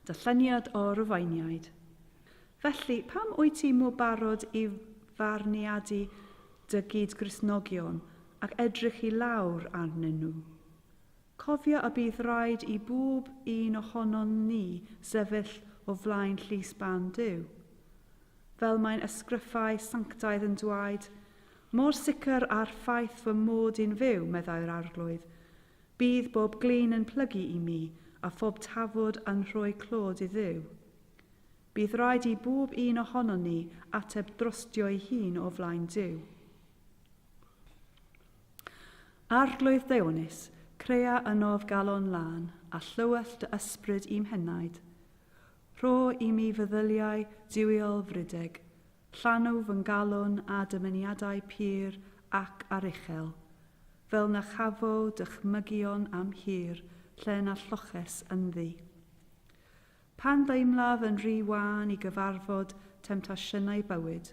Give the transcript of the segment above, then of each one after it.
Dyllyniad o Rufeiniaid. Felly, pam wyt ti mor barod i farniadu dy gyd-Gristnogion ac edrych i lawr arnyn nhw? Cofia y bydd rhaid i bob un ohonon ni sefyll o flaen llys barn Duw. Fel mae'n ysgrythau sanctaidd yn dwaed, Mor sicr â'r ffaith fy mod i'n fyw, meddai'r Arglwydd, bydd bob glin yn plygu i mi, a phob tafod yn rhoi clod i Dduw. Bydd rhaid i bob un ohonon ni ateb drostio'i hun o flaen Duw. Arglwydd Deuonus, crea yn of galon lân a llywell dy ysbryd i'm henaid. Rho i mi feddyliau duwiol frideg, llanw fy ngalon â dymuniadau pur ac aruchel, fel na chafo dychmygion am hir lle na lloches ynddi. Pan ddeimlaf yn rhy wan i gyfarfod temtasiynau bywyd,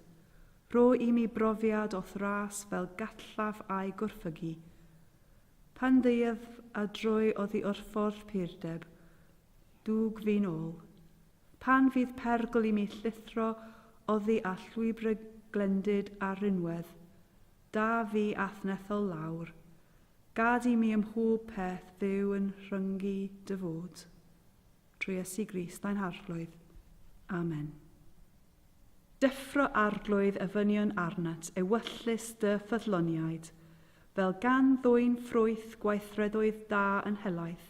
rho i mi brofiad o thras fel gallaf a'i gwrthfygu. Pan ddeuaf a droi oddi wrth ffordd purdeb, dwg fi'n ôl. Pan fydd perygl i mi llithro oddi a llwybrau glendid a rhinwedd, da fi athnethol lawr. Gad i mi ym mhob peth fyw yn rhyngu dy fod. Trwy Iesu Grist ein Harglwydd. Amen. Deffro arglwydd y fynion arnat ewyllys dy ffyddloniaid, fel gan ddwyn ffrwyth gweithredoedd da yn helaeth,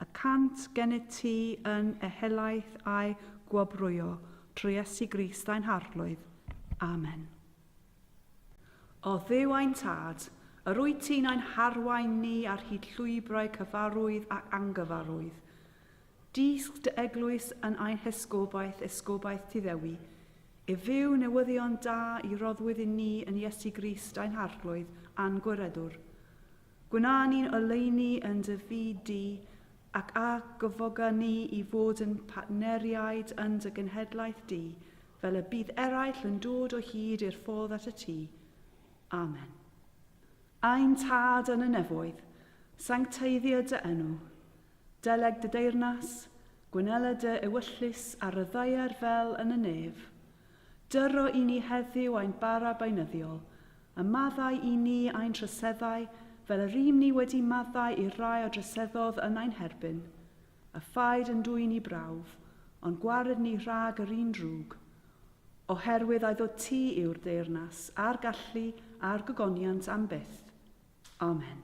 y cant gennyt ti yn ehelaeth a'i gwobrwyo, trwy Iesu Grist ein Harglwydd. Amen. O Dduw ein Tad, yr wyt ti'n ein harwain ni ar hyd llwybrau cyfarwydd ac angyfarwydd. Dysg dy eglwys yn ein hesgobaeth, esgobaeth ti Ddewi, i fyw newyddion da i roddwyd i ni yn Iesu Grist ein Harglwydd a'n Gwiredwr. Gwna ni'n oleuni yn dy fyd di, ac a gyfoga ni i fod yn partneriaid yn dy genhedlaeth di, fel y bydd eraill yn dod o hyd i'r ffordd at y tŷ. Amen. Ein Tad yn y nefoedd, sancteiddio dy enw. Deleg dy deyrnas, gwynela dy ewyllys ar y ddaear fel yn y nef. Dyro i ni heddiw ein bara beunyddiol, a maddau i ni ein troseddau fel yr ym ni wedi maddau i'r rai a droseddodd yn ein herbyn. A phaid yn dwyn i brawf, ond gwared ni rhag yr un drwg, oherwydd a'i ddod ti yw'r deyrnas, a'r gallu, a'r gogoniant am byth. Amen.